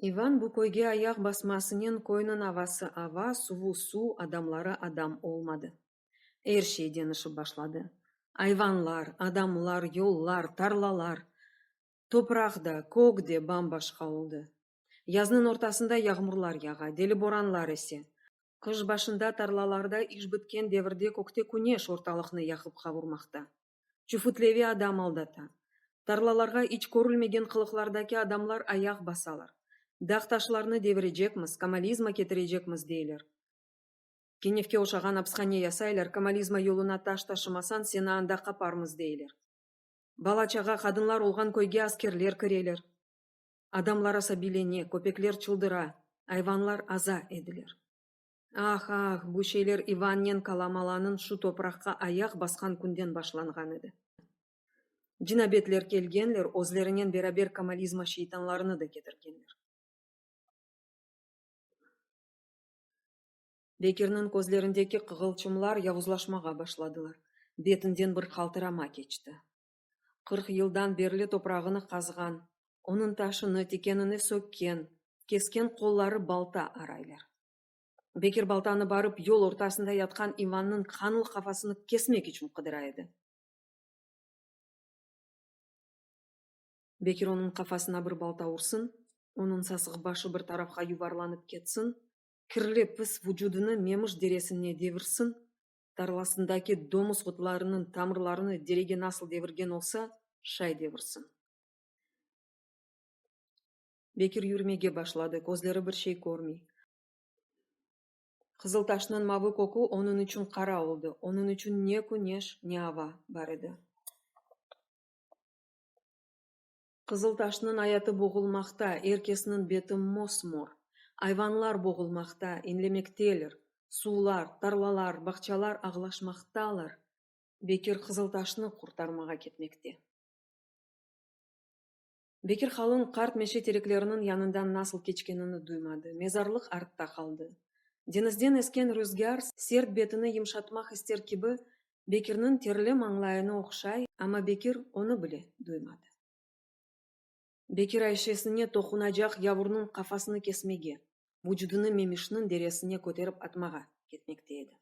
İvan bu köyge ayaq basmasınen köyniñ avası ava, suvu suv, adamları adam olmadı. Er şey deñişip başladı. Ayvanlar, adamlar, yollar, tarlalar. Topraq da, kök de bam-başqa oldı. Yaznıñ ortasında yağmurlar yağa, deli boranlar ese. Qış başında tarlalarda iş bitken devirde kökte küneş ortalıqnı yaqıp qavurmaqta. Çufutlevi adam aldata. Tarlalarğa iç körülmegen qılıqlardaki adamlar ayaq basalar. Dağ-taşlarnı devirecekmiz, komalizma ketirecekmiz deyler. Kenevke oşağan apishane yasaylar, komalizma yoluna taş taşımasañ, seni anda qaparmız deyler. Bala-çağa, qadınlar olğan köyge askerler kireler. Adamlar asabiylene, köpekler çıldıra, ayvanlar aza ediler. Ah, ah, bu şeyler İvannen Kalamalanıñ şu topraqqa ayaq basqan künden başlanğan edi. Cinabetler kelgenler, özlerinen beraber Kamalizma şeytanlarını da ketirgenler. Bekirniñ közlerindeki qığılçımlar yavuzlaşmağa başladılar, betinden bir qaltırama keçti. Qırq yıldan berli toprağını qazğan, onıñ taşını, tikenini sökken, kesken qolları balta araylar. Bekir baltanı barıp yol ortasında yatqan İvannıñ qanlı qafasını kesmek içün qıdıra edi. Bekir onıñ qafasına bir balta ursın, onıñ sasıq başı bir tarafqa yuvarlanıp ketsin, kirli, pis vucudını Memiş deresine devirsin, tarlasındaki domuz qutlarınıñ tamırlarını derege nasıl devirgen olsa, şay devirsin. Bekir yürümege başladı, közleri bir şey körmey. Qızıl taşnıñ mavı kökü onıñ içün qara oldı, onıñ içün ne küneş, ne ava bar edi. Qızıltaşnıñ ayatı boğulmaqta, er kesniñ beti mos-mor. Ayvanlar boğulmaqta, inlemekteler. Suvlar, tarlalar, bağçalar ağlaşmaqtalar. Bekir Qızıltaşnı qurtarmağa ketmekte. Bekir qalın qart meşe terekleriniñ yanından nasıl keçkenini duymadı. Mezarlıq artta qaldı. Deñizden esken rüzgâr sert betini yımşatmaq ister kibi Bekirniñ terli mañlayını oqşay, amma Bekir onı bile duymadı. Bekir Ayşesine toqunacaq yavurnıñ qafasını kesmege, vucudını Memişniñ deresine köterip atmağa ketmekte edi.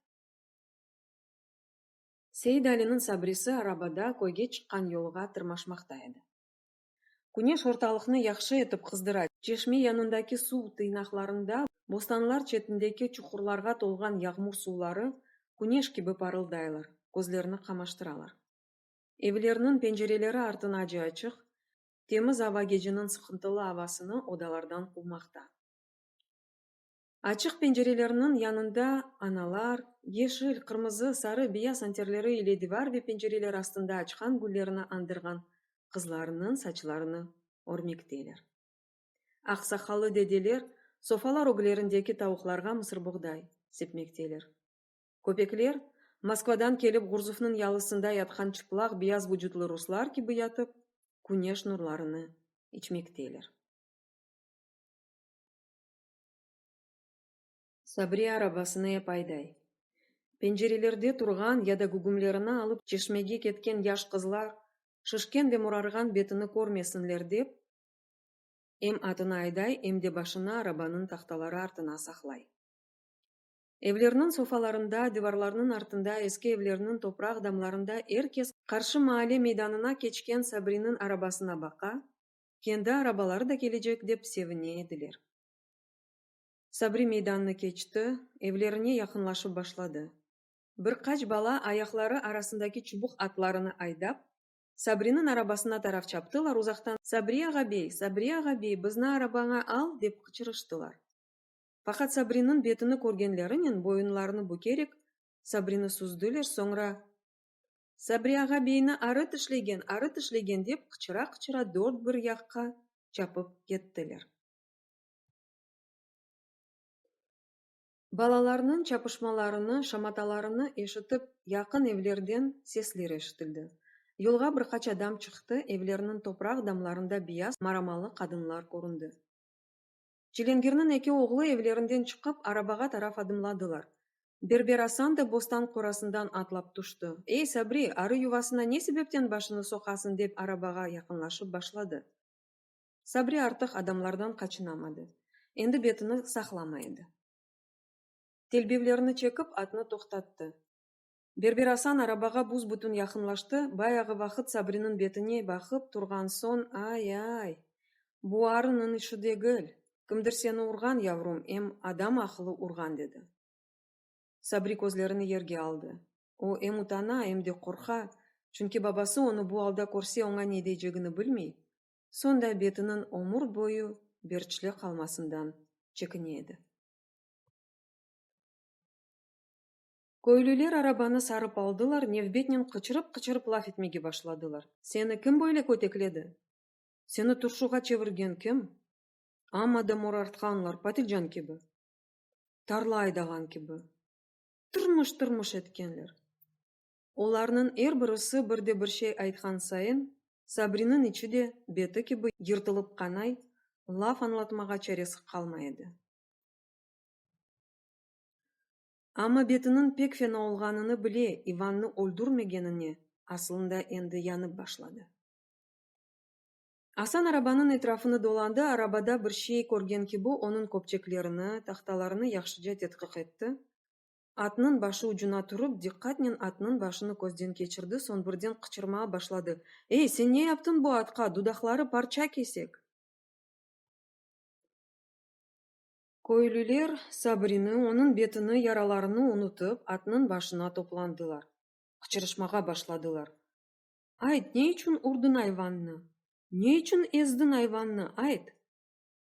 Seidaliniñ Sabrisi arabada köyge çıqqan yolğa tırmaşmaqta edi. Küneş ortalıqnı yahşı etip qızdıra. Çeşme yanındaki suv tıyınaqlarında, bostanlar çetindeki çuqurlarğa tolğan yağmur suvları küneş kibi parıldaylar, közlerni qamaştıralar. Evlerniñ pencereleri artınace açıq, temiz ava geceniñ sıqıntılı avasını odalardan quvmaqta. Açıq pencerelerniñ yanında analar, yeşil, qırmızı, sarı, beyaz anterleri ile divar ve pencereler astında açqan güllerini andırğan qızlarnıñ saçlarını örmekteler. Aqsaqallı dedeler sofalar öglerindeki tavuqlarğa mısırbuğday sepmekteler. Köpekler, Moskvadan kelip Ğurzufnıñ yalısında yatqan çıplaq beyaz vucutlı ruslar kibi yatıp, küneş nurlarını içmekteler. Sabriye arabasını ep ayday. Pencerelerde turğan ya da gügümlerini alıp çeşmege ketken yaş qızlar şişken ve morarğan betini körmesinler dep, em atını ayday, em de başını arabanıñ tahtaları artına saqlay. Evlerniñ sofalarında, divarlarnıñ artında, eski evlerniñ topraq damlarında er kes qarşı maalle meydanına keçken Sabriniñ arabasına baqa, kendi arabaları da kelecek dep sevine ediler. Sabri meydannı keçti, evlerine yaqınlaşıp başladı. Bir qaç bala ayaqları arasındaki çubuq atlarını aydap, Sabriniñ arabasına taraf çaptılar, uzaqtan Sabri ağa-bey, Sabri ağa-bey, bizni arabaña al! dep qıçırıştılar. Faqat Sabriniñ betini körgenlerinen boyunlarını bükerek Sabrini süzdüler, soñra, Sabri ağa beyni arıt işlegen, arıt işlegen, dep qıçıra-qıçıra dört bir yaqqa çapıp kettiler. Balalarnıñ çapışmalarını, şamatalarını eşitip, yaqın evlerden sesler eşitildi. Yolğa bir qaç adam çıqtı, evlerniñ topraq damlarında biyaz maramalı qadınlar köründi. Çilingirniñ eki oğlu evlerinden çıqıp, arabağa taraf adımladılar. Berber Asan da bostan qorasından atlap tüşti. Ey, Sabri, arı yuvasına ne sebepten başını soqasıñ? dep arabağa yaqınlaşıp başladı. Sabri artıq adamlardan qaçınamadı. Endi betini saqlamay edi. Telbevlerini çekip, atnı toqtattı. Berber Asan arabağa büs-bütün yaqınlaştı, bayağı vaqıt Sabriniñ betine baqıp turğan soñ, Ay-ay! Bu arınıñ işi degil, kimdir seni urğan, yavrum, em adam aqılı urğan, dedi. Sabri közlerini yerge aldı. O, em utana, em de qorqa, çünki babası onı bu alda körse oña ne deycegini bilmey, soñ da betiniñ ömür boyu berçli qalmasından çekine edi. Köylüler arabanı sarıp aldılar, nevbetnen qıçırıp-qıçırıp laf etmege başladılar. Seni kim böyle kötekledi? Seni turşuğa çevirgen kim? Amma da morartqanlar, patilcan kibi, tarla aydağan kibi, tırmış-tırmış etkenler. Olarnıñ er birisi bir de bir şey aytqan sayın, Sabriniñ içi de, beti kibi yırtılıp qanay, laf añlatmağa çaresi qalmay edi. Amma betiniñ pek fena olğanını bile İvannı öldürmegenine asılında endi yanıp başladı. Asan arabanıñ etrafını dolandı, arabada bir şey körgen kibi onıñ köpçeklerini, tahtalarını yahşıca tedqiq etti, atnıñ başı ucuna turıp, diqqatnen atnıñ başını közden keçirdi, soñ birden qıçırmağa başladı, Ey, sen ne yaptıñ bu atqa, dudaqları parça kesek! Köylüler Sabrini, onıñ betini, yaralarını unutıp, atnıñ başına toplandılar. Qıçırışmağa başladılar. Ayt, ne içün urdıñ ayvannı? Ne içün ezdiñ ayvannı, ayt!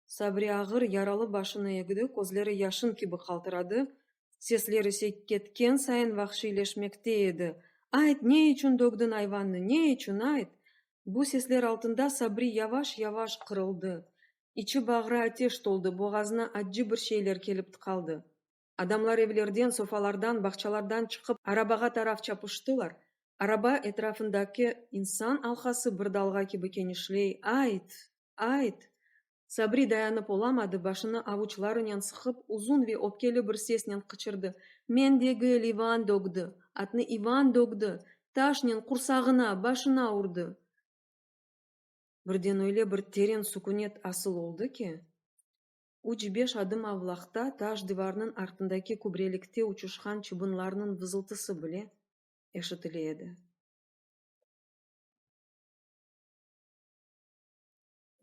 Sabri ağır yaralı başını egdi, közleri yaşın kibi qaltıradı, sesler ise ketken sayın vahşiyleşmekte edi, Ayt, ne içün dögdiñ ayvannı, ne içün, ayt! Bu sesler altında Sabri yavaş-yavaş qırıldı, İçi-bağrı ateş toldı, boğazına accı bir şeyler kelip tıqaldı. Adamlar evlerden, sofalardan, bağçalardan çıqıp, arabağa taraf çapıştılar. Araba etrafındaki insan alqası bir dalğa kibi kenişley, Ayt! Ayt! Sabri dayanıp olamadı, başını avuçlarınen sıqıp, uzun ve öpkeli bir sesnen qıçırdı, Men degil, İvan dögdi! Atnı İvan dögdi! Taşnen, qursağına, başına urdı! birden öyle bir teren sukünet asıl oldı ki, üç-beş adım avlaqta taş divarnıñ artındaki kübrelikte uçuşqan çıbınlarnıñ vızıltısı bile eşitile edi.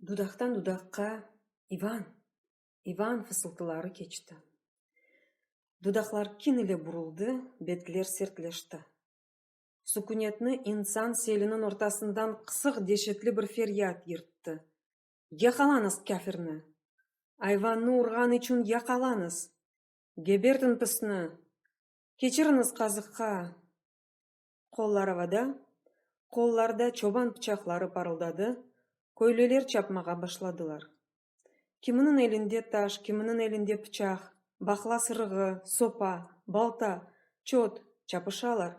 Dudaqtan dudaqqa İvan! İvan! fısıltıları keçti. Dudaqlar kin ile buruldı, betler sertleşti. sukünetni insan seliniñ ortasından qısıq deşetli bir feryat yırttı, Yaqalañız kâfirni! Ayvannı urğan içün yaqalañız! Gebertiñ pisni! Keçiriñiz qazıqqa! Qollar avada, qollarda çoban pıçaqları parıldadı, köylüler çapmağa başladılar. Kiminiñ elinde taş, kiminiñ elinde pıçaq, baqla sırığı, sopa, balta, çöt, çapışalar.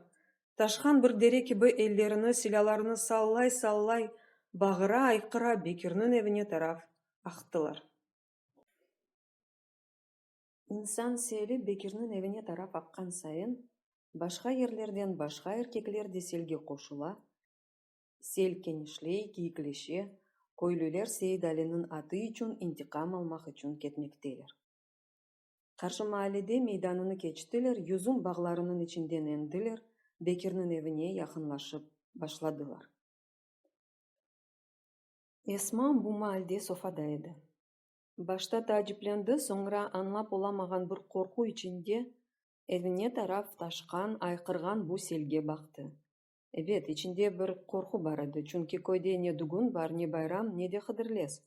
Taşhan bir dere kibi ellerini, silâlarını sallay-sallay, bağıra, ayqıra Bekirniñ evine taraf aqtılar. İnsan seli Bekirniñ evine taraf aqqan sayın, başqa yerlerden başqa erkekler de selge qoşula, Sel kenişley, kiyikleşe, köylüler Seit-Aliniñ atı içün intiqam almaq içün ketmekteler. Qarşı maallede meydanını keçtiler, yüzüm bağlarınıñ içinden endiler, Bekirniñ evine yaqınlaşıp başladılar. Esma bu maalde sofada edi. Başta taaciplendi, soñra añlap olamağan bir qorqu içinde evine taraf taşqan, ayqırğan bu selge baqtı. Ebet, içinde bir qorqu bar edi, çünki köyde ne dügün bar, ne bayram, ne de Hıdırlez.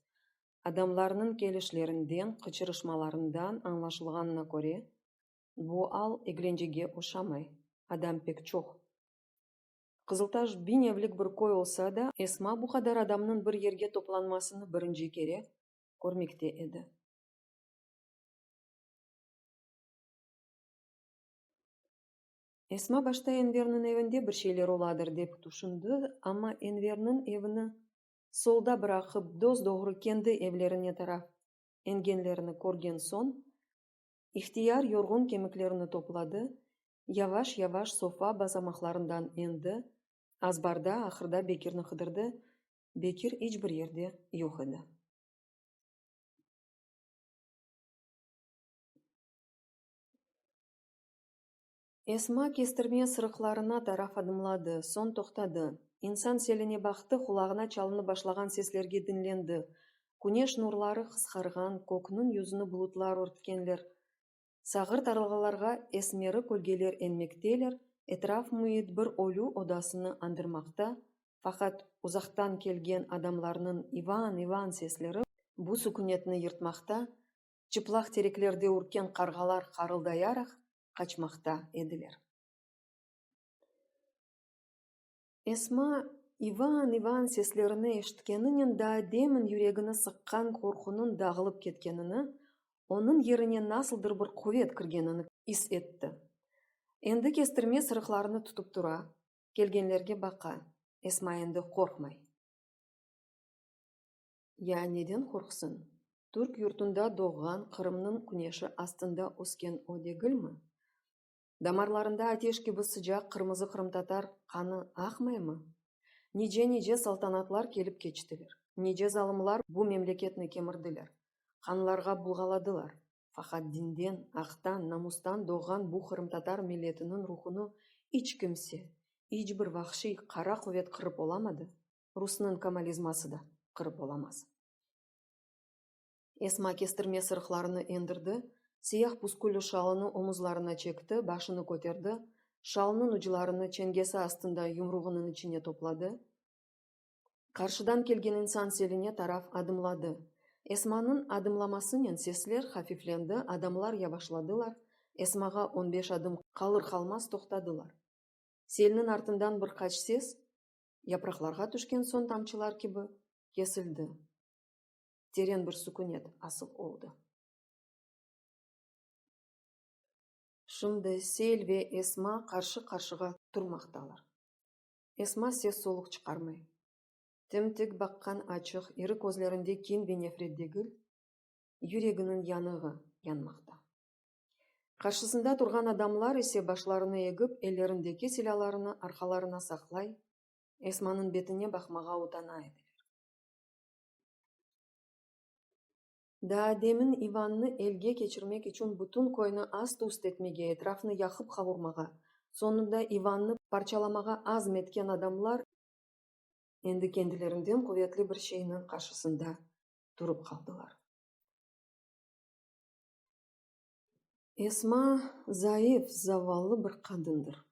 Adamlarnıñ kelişlerinden, qıçırışmalarından añlaşılğanına köre, bu al eglencege oşamay, adam pek çoq. Qızıltaş biñ evlik bir köy olsa da, Esma bu qadar adamnıñ bir yerge toplanmasını birinci kere körmekte edi. Esma başta Enverniñ evinde bir şeyler oladır dep tüşündi, amma Enverniñ evini solda bıraqıp, dos-doğru kendi evlerine taraf engenlerini körgen soñ, ihtiyar yorğun kemiklerini topladı, yavaş-yavaş sofa basamaqlarından endi, azbarda, ahırda Bekirni qıdırdı, Bekir iç bir yerde yoq edi. Esma kestirme sırıqlarına taraf adımladı, soñ toqtadı. İnsan seline baqtı, qulağına çalınıp başlağan seslerge diñlendi. Küneş nurları qısqarğan, kökniñ yüzüni bulutlar örtkenler. Sağır tarlalarğa esmeri kölgeler enmekteler, etraf müit bir ölü odasını añdırmaqta, faqat uzaqtan kelgen adamlarnıñ İvan, İvan sesleri bu sükünetni yırtmaqta, çıplaq tereklerde ürken qarğalar qarıldayaraq qaçmaqta ediler. Esma, İvan-İvan seslerini eşitkeninen daa demin yüregini sıqqan qorqunıñ dağılıp ketkenini, onıñ yerine nasıldır bir quvet kirgenini is etti. Endi kestirme sırıqlarını tutıp tura, kelgenlerge baqa, Esma endi qorqmay. Ya neden qorqsın? Türk yurtunda doğğan, Qırımnıñ küneşi astında ösken o degilmi? Damarlarında ateş kibi sıcaq qırmızı qırımtatar qanı aqmaymı? Nice-nice saltanatlar kelip keçtiler, nice zalımlar bu memleketni kemirdiler, qanlarğa bulğaladılar, faqat dinden, aqtan, namustan doğğan bu qırımtatar milletiniñ ruhunı iç kimse, iç bir vahşiy qara quvet qırıp olamadı. Rusnıñ komolizması da qırıp olamaz. Esma kestirme sırıqlarını endirdi, siyah pusküllü şalını omuzlarına çekti, başını köterdi, şalnıñ uclarını çengesi astında yumruğınıñ içine topladı, qarşıdan kelgen insan seline taraf adımladı. Esmanıñ adımlamasınen sesler hafiflendi, adamlar yavaşladılar, Esmağa on beş adım qalır-qalmaz toqtadılar. Selniñ artından bir qaç ses, yapraqlarğa tüşken soñ tamçılar kibi, kesildi. Teren bir sukünet asıl oldı. Şimdi Sel ve Esma qarşı-qarşığa turmaqtalar. Esma ses-soluq çıqarmay. Tim-tik baqqan açıq iri közlerinde kin ve nefret degil, yüreginiñ yanığı yanmaqta. Qarşısında turğan adamlar ise başlarını egip, ellerindeki silâlarını arqalarına saqlay, Esmanıñ betine baqmağa utana ediler. Daa demin İvannı elge keçirmek içün bütün köyni ast-üst etmege, etrafnı yaqıp-qavurmağa, soñunda İvannı parçalamağa azm etken adamlar endi kendilerinden quvetli bir şeyniñ qarşısında turıp qaldılar. Esma zayıf, zavallı bir qadındır.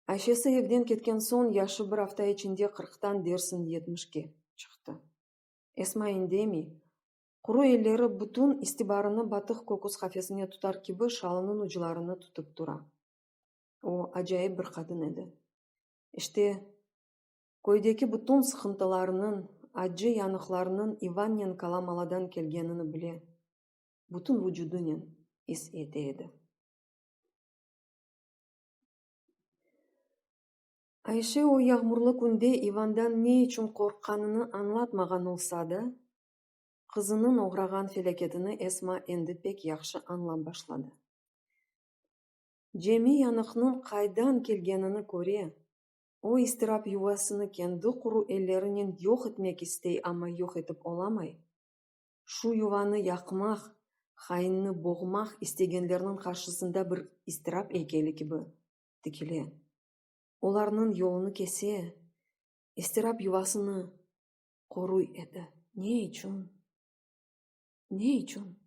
Ayşesi evden ketken soñ yaşı bir afta içinde qırqtan dersin yetmişke çıqtı. Esma indemey, quru elleri bütün istibarını batıq köküs qafesine tutar kibi şalınıñ uclarını tutıp tura. O, acayip bir qadın edi. İşte, köydeki bütün sıqıntılarnıñ, accı yanıqlarnıñ İvannenko Lamaladan kelgenini bile. bütün vucudınen is ete edi. Ayşe o yağmurlı künde İvandan ne içün qorqqanını añlatmağan olsa da, qızınıñ oğrağan felâketini Esma endi pek yahşı añlap başladı. Cemi yanıqnıñ qaydan kelgenini köre, o istirap yuvasını kendi quru ellerinen yoq etmek istey, amma yoq etip olamay. şu yuvanı yaqmaq, hainnı boğmaq istegenlerniñ qarşısında bir iztirap eykeli kibi tikile, olarnıñ yolunı kese, iztirap yuvasını qoruy edi. Ne içün? Ne içün?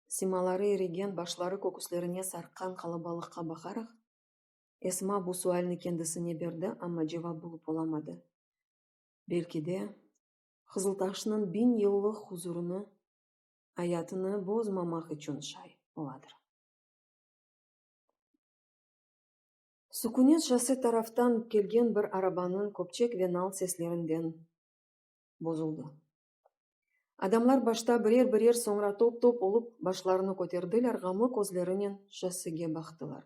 Simaları irigen, başları köküslerine sarqqan qalabalıqqa baqaraq, Esma bu sualni kendisine berdi, amma cevap bulıp olamadı. Belki de, Qızıltaşnıñ biñ yıllıq huzurını, ayatını bozmamaq içün şay oladır. Sukünet şosse taraftan kelgen bir arabanıñ köpçek ve nal seslerinden bozuldı. Adamlar başta birer-birer, soñra top-top olıp başlarını köterdiler, ğamlı közlerinen şossege baqtılar.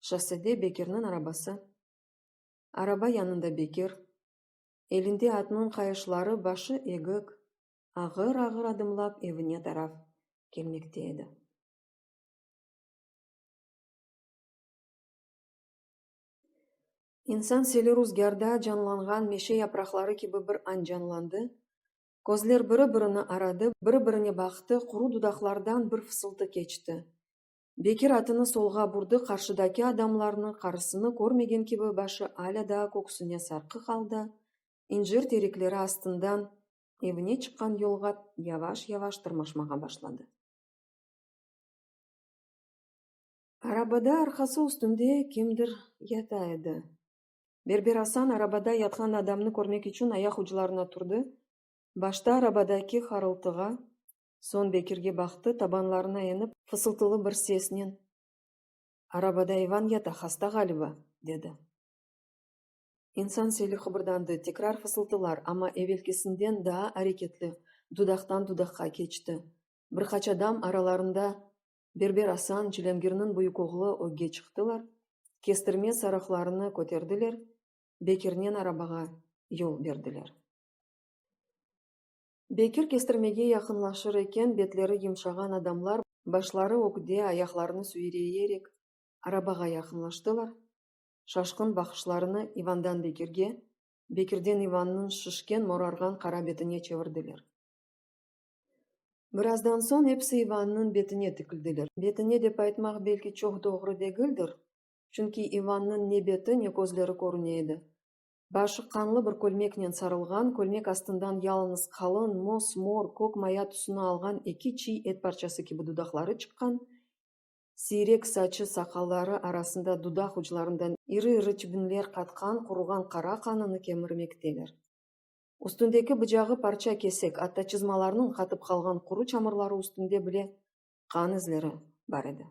Şossede Bekirniñ arabası, araba yanında Bekir, Elinde atnıñ qayışları başı egik, ağır-ağır adımlap evine taraf kelmekte edi. İnsan seli ruzgârda canlanğan meşe yapraqları kibi bir añ canlandı, közler biri-birini aradı, biri-birine baqtı, quru dudaqlardan bir fısıltı keçti, Bekir atını solğa burdı, qarşıdaki adamlarnı, qarısını körmegen kibi başı alâ daa köksüne sarqıq aldı, incir terikleri astından evine çıqqan yolğa yavaş-yavaş tırmaşmağa başladı. Arabada arqası üstünde kimdir yata edi. Berber Asan arabada yatqan adamnı körmek içün ayaq uclarına turdı, başta arabadaki harıltığa, Soñ Bekirge baqtı, tabanlarına enip, fısıltılı bir sesnen, Arabada İvan yata, hasta ğaliba, dedi. İnsan seli qıbırdandı, tekrar fısıltılar, amma evelkisinden daa areketli, dudaqtan dudaqqa keçti. Bir qaç adam, aralarında Berber Asan, Cilângirniñ büyük oğlu, ögge çıqtılar, kestirme sarıqlarını köterdiler, Bekirnen arabağa yol berdiler. Bekir kestirmege yaqınlaşır eken, betleri yumşağan adamlar, başları ögde, ayaqlarını süyreyerek arabağa yaqınlaştılar, şaşqın baqışlarını İvandan Bekirge, Bekirden İvannıñ şişken, morarğan qara betine çevirdiler. Birazdan soñ episi İvannıñ betine tikildiler. Betine dep aytmaq belki çoq doğru degildir, çünki İvannıñ ne beti, ne közleri körüne edi. Başı qanlı bir kölmeknen sarılğan, kölmek astından yalıñız qalın, mos-mor, kök maya tüsüni alğan eki çiy et parçası kibi dudaqları çıqqan, siyrek saçı, saqalları arasında dudaq uclarından iri-iri tübünler qatqan quruğan qara qanını kemirmekteler. Üstündeki bıcağı parça kesik, atta çızmalarnıñ qatıp qalğan quru çamırları üstünde bile qan izleri bar edi.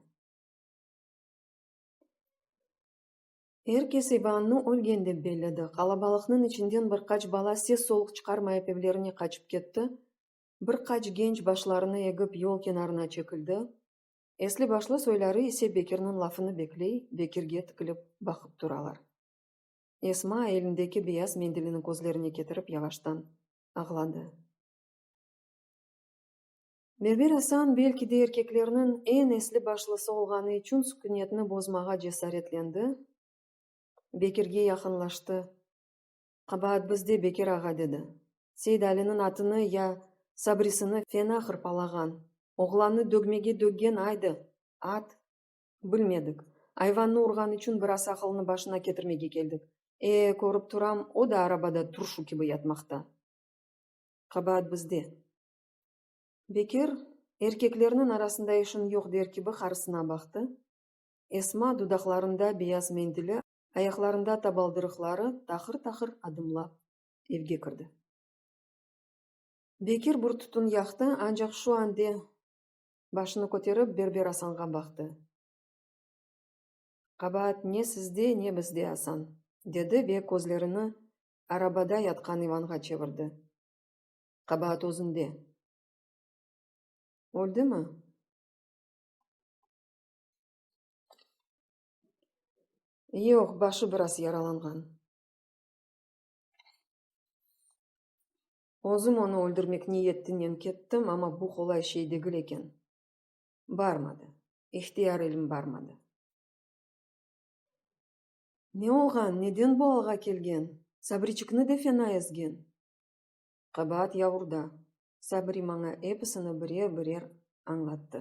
Er kes İvannı ölgen dep belledi. Qalabalıqnıñ içinden bir qaç bala ses-soluq çıqarmayıp evlerine qaçıp ketti. Bir qaç genç başlarını egip yol kenarına çekildi. Esli-başlı soyları ise Bekirniñ lafını bekley, Bekirge tikilip baqıp turalar. Esma elindeki beyaz mendilini közlerine ketirip yavaştan ağladı. Berber Asan belki de erkeklerniñ eñ esli başlısı olğanı içün sükünetni bozmağa cesaretlendi, Bekirge yaqınlaştı. Qabaat bizde, Bekir ağa, dedi. Seydaliniñ atını ya Sabrisini fena hırpalağan, oğlannı dögmege döggen aydı, at. Bilmedik. Ayvannı urğan içün biraz aqılını başına ketirmege keldik. E, körip turam, o da arabada turşu kibi yatmaqta. Qabaat bizde. Bekir, erkeklerniñ arasında işiñ yoq der kibi qarısına baqtı. Esma, dudaqlarında beyaz mendili, ayaqlarında tabaldırıqları, taqır-taqır adımlap evge kirdi. Bekir bir tütün yaqtı, ancaq şu ande başını köterip Berber Asanğa baqtı. Qabaat ne sizde, ne bizde, Asan! dedi ve közlerini arabada yatqan İvanğa çevirdi. Qabaat özünde. Öldimi? Yoq, başı biraz yaralanğan. Özüm onı öldürmek niyetinen kettim, amma bu qolay şey degil eken. Barmadı. İhtiyar elim barmadı. Ne olğan, neden bu alğa kelgen? Sabriçikni de fena ezgen. Qabaat yavurda. Sabri maña episini birer-birer añlattı.